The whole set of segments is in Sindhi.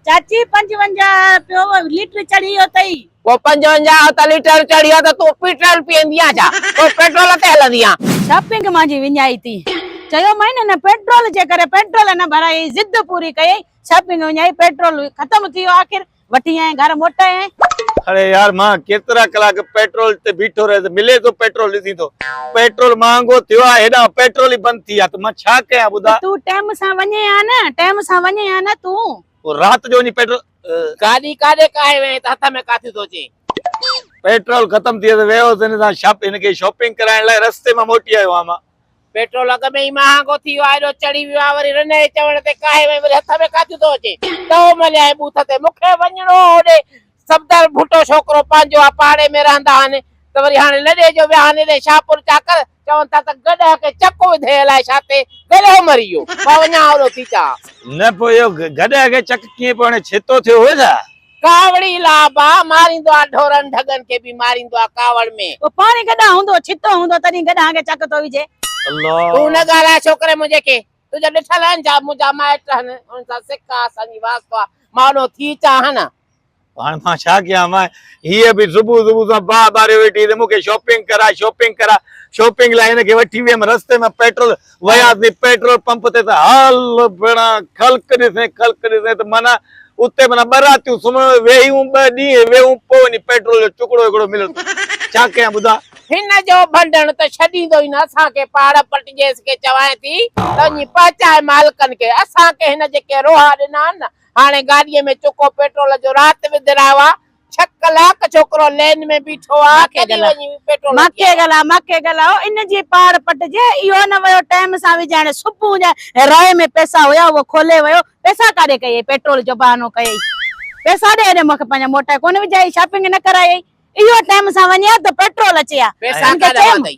چاچي پنجونجاهه رپيو ليٽر چڙهيو تئي. پوء پنجونجاهه رپيا ليٽر چڙهيو ته تون پيٽرول پيئندينء ڇا؟ پوء پيٽرول تي هلندينء؟ شاپنگ مان جي وڃائي ٿي. چيومانء هن پيٽرول جي ڪري پيٽرول نه ڀرايائين، ضد پوري ڪيائين، شاپنگ وڃائي، پيٽرول ختم ٿي ويو، آخر وٺي آيائين، گهر موٽايائين. اڙي يار مان ڪيترا ڪلاڪ پيٽرول تي بيٺو رهي ته ملي ٿو پيٽرول ڏسين ٿو. پيٽرول مهانگو ٿيو آ هيڏانهن پيٽرول ئي بند ٿي آ ته مان ڇا ڪيان ٻڌاء. تون ٽيم سان وڃين ها نه ٽيم سان وڃين ها نه تون. پوء رات جو وڃي پيٽرول اه. گاڏي ڪاڏي ڪاهي وئين ته هٿ ۾ ڪاٿي ٿو اچين. پيٽرول ختم ٿي ويو ته ويو هوس هن سان شاپ هن کي شاپنگ ڪرائڻ لاء رستي مان موٽي آيو هئام مان. پيٽرول اڳ ۾ ئي مهانگو ٿي ويو آ هيڏو چڙهي ويو آ وري رنه جي چوڻ تي ڪاهي وئين وري هٿ ۾ ڪاٿي ٿو اچين. ته هو مليائين بوٿ تي مون کي وڃڻو هو هوڏي. صفدر ڀٽو ڇوڪرو پنهنجو آ پاڙي ۾ رهندا آهن ته وري هاڻي لڏي جو ويا آهن ايڏي شاهپور چاڪر چون ٿا ته گڏهه کي چڪ وڌي الائي ڇا تي گڏهه مري ويو مان وڃان اوڏو ٿي چان. نه پوء اهو گڏهه کي چڪ ڪيئن پوء هاڻي ڇيتو ٿيو هو ڇا؟ ڪاوڙي لا با ماريندو آ ڍورن ڍڳن کي به ماريندو آ ڪاوڙ ۾. پوء پاڻي گڏهه هوندو ڇيتو هوندو تڏهن گڏهه کي چڪ ٿو وجهي. الله. تون نه ڳالهاء ڇوڪري منهنجي کي تنهنجا ڏٺل آهن جا منهنجا مائٽ هن، انهن سان سڪ آ، اسان جي واسطو آ، مان اوڏانهن ٿي اچان ها نه؟ هاڻ مان ڇا ڪيان؟ ماء هيء به صبح صبح سان باهه ٻاريو ويٺي ته مون کي شاپنگ ڪراء، شاپنگ ڪراء. شاپنگ لاء هن کي وٺي ويم، رستي ۾ پيٽرول وياسين، پيٽرول پمپ تي ته هل ڀيڻا خلق ڏسين، خلق ڏسين ته معنيٰ اتي معنيٰ ٻه راتيون سمهڻ ويهيون ٻه ڏينهن ويهون پوء وڃي پيٽرول جو ٽڪڙو هڪڙو مليو ته ڇا ڪيان ٻڌاء. هن جو ڀنڊڻ ته ڇڏيندو ئي نه اسان کي پاڙ پٽ جيس کي چوائين ٿي ته وڃي پهچائي مالڪن کي اسان کي هن جيڪي روها ڏنا آهن نه هاڻي گاڏيء ۾ چکو پيٽرول جو رات وڌرايو آهي ڇهه ڪلاڪ ڇوڪرو لين ۾ بيٺو آ ڪڏهن وڃي پيٽرول ڀرائي مکي گل آ مکي گل آ او ان جي پاڙ پٽ جي اهو نه ويو ٽيم سان وجهائڻ صبح جا رائي ۾ پئسا هيا اهو کولي ويو پئسا ڪاڏي ڪيئي پيٽرول جو بهانو ڪيئي پئسا ڏي هڏي مونکي پنهنجا موٽائي ڪونه وجهائي شاپنگ نه ڪرائي اهو ٽيم سان وڃي ها ته پيٽرول اچي ها پئسا ڪاڏا ورتائي.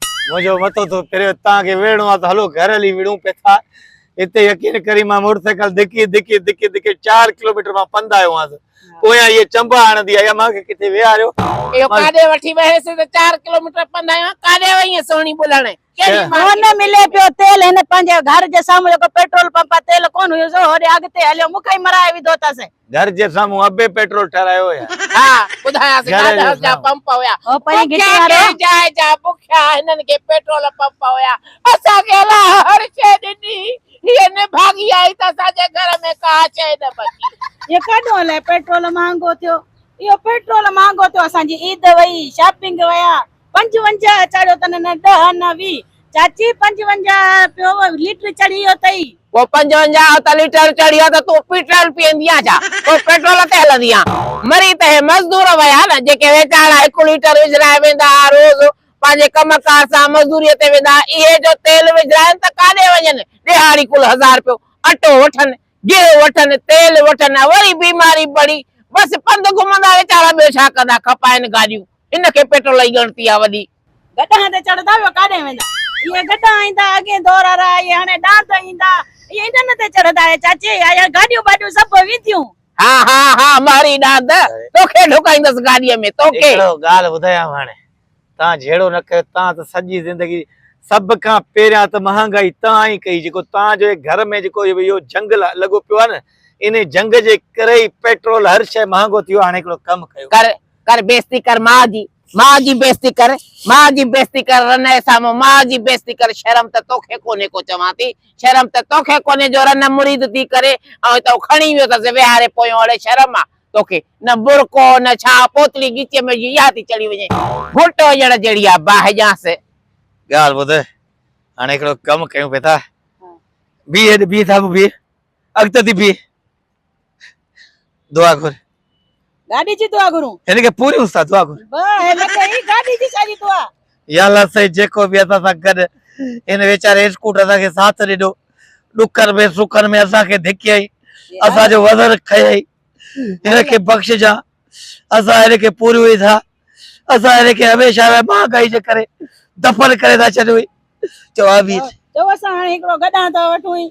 منهنجو مٿو ٿو ڦري، توهان کي ويڙهڻو آهي ته هلو گهر هلي وڙهون پيٿا. اتي يقين ڪري مان موٽر سائيڪل ڌڪي ڌڪي ڌڪي ڌڪي چار ڪلوميٽر مان پنڌ آيو هئانس. پويان هيء چنبا هڻندي آئي ها مان کي ڪٿي ويهاريو. اهو ڪاڏي وٺي ويهيس ته چار ڪلوميٽر پنڌ آيو هان ڪاڏي وئينء سهڻي ٻلهڻي. ڪهڙي مارڪيٽ ۾. هن ملي پيو تيل هن پنهنجي گهر جي سامهون جيڪو پيٽرول پمپ آهي تيل ڪونه هيوس هوڏي اڳتي هليو مون کي ئي مرائي وڌو اٿس. گهر جي سامهون ابي پيٽرول ٺهرايو هيا. ها ٻڌايانس گهر جي ڳاڏهس جا سامهون. پمپ هيا. او پنهنجي گهٽي بکيا وارو. ڪنهن جاء جا بکيا هنن کي پيٽرول پمپ هيا. اسان کي الله هر شيء ڏني هئي هي نڀاڳي آهي ته اسان جي گهر ۾ ڪا شيء نه بچي. اهو ڪاڏهون الائي پيٽرول مهانگو ٿيو. اهو پيٽرول مهانگو ٿيو اسان جي عيد وئي شاپنگ ويا. پنجونجاهه چاڙهيو تن نه ڏهه نه ويهه. چاچي پنجونجاهه پيو ليٽر چڙهي ويو تئي. پوء پنجونجاهه ته ليٽر چڙهيو ته تون پيٽرول پيئندينء ڇا؟ پوء پيٽرول تي هلندينء؟ مري ته هي مزدور ويا نه، جيڪي ويچارا هڪ ليٽر وجهرائي ويندا ها روز، پنهنجي ڪم ڪار سان مزدوريء تي ويندا ها، اهي جو تيل وجهرائن ته ڪاڏي وڃن؟ ڏيهاڙي ڪل هزار رپيو اٽو وٺن، گيهه وٺن، تيل وٺن ۽ وري بيماري پڙي، بس پنڌ گهمندا ويچارا ٻيو ڇا ڪندا، کپائن گاڏيون. ان کي پيٽرول جي ڳڻتي آ وڏي. گڏهن تي چڙهندا ٻيو ڪاڏهن ويندا. اهي گڏها ايندا اڳين دور وارا اهي هاڻي ڏاند ايندا. اهي انن تي چڙهندا اهي چاچي اهي گاڏيون ٻاڏيون سڀ وينديون. ها ها ها مهري ڏاند توکي ڍوڪائيندس گاڏيء ۾ توکي. هڪڙو ڳالهه ٻڌايانو هاڻي تان جهيڙو نه ڪيو تان ته سڄي زندگي سڀ کان پهريان ته مهانگائي تان ئي ڪئي جيڪو تان جو هي گهر ۾ جيڪو اهو جنگ لڳو پيو آ نه انهي جنگ جي ڪري ئي پيٽرول هر شئي مهانگو ٿيو هاڻي هڪڙو ڪم ڪيو. ڪر ڪر بيستي ڪر ماء جي، ماء جي بيستي ڪر، ماء جي بيستي ڪر رنهه سامهون ماء جي بيستي ڪر شرم ته توکي ڪونهي ڪو چوان ٿي شرم ته توکي ڪونهي جو رنهه مريد ٿي ڪري ۽ هتئون کڻي ويو اٿس ويهاري پويون اڙي شرم آ توکي نه برقعو نه ڇا پوتلي ڳچيء ۾ وجهي اها ٿي چڙهي وڃين گهوٽ هجڻ جهڙي آ باهه ڄانس. ڳالهه ٻڌ هاڻي هڪڙو ڪم ڪيون پئي ٿا بيهه هيڏي بيهه سامهون بيهه اڳتي ٿي بيهه دعا گهر گاڏي جي دعا گهرون هن کي پوري استاد دعا گهر واه هن کي هي گاڏي جي ساري دعا يا الله سائين جيڪو به اسان سان گڏ ان ويچاري اسڪوٽر اسان کي ساٿ ڏنو ڏکن ۾ سکن ۾ اسان کي ڌڪيائي اسان جو وزن کيائي هن کي بخشجا اسان هن کي پوري هئي ٿا اسان هن کي هميشه لاء مهانگائي جي ڪري دفن ڪري ٿا ڇڏيون چو آمين چو اسان هاڻي هڪڙو گڏهان ٿا وٺون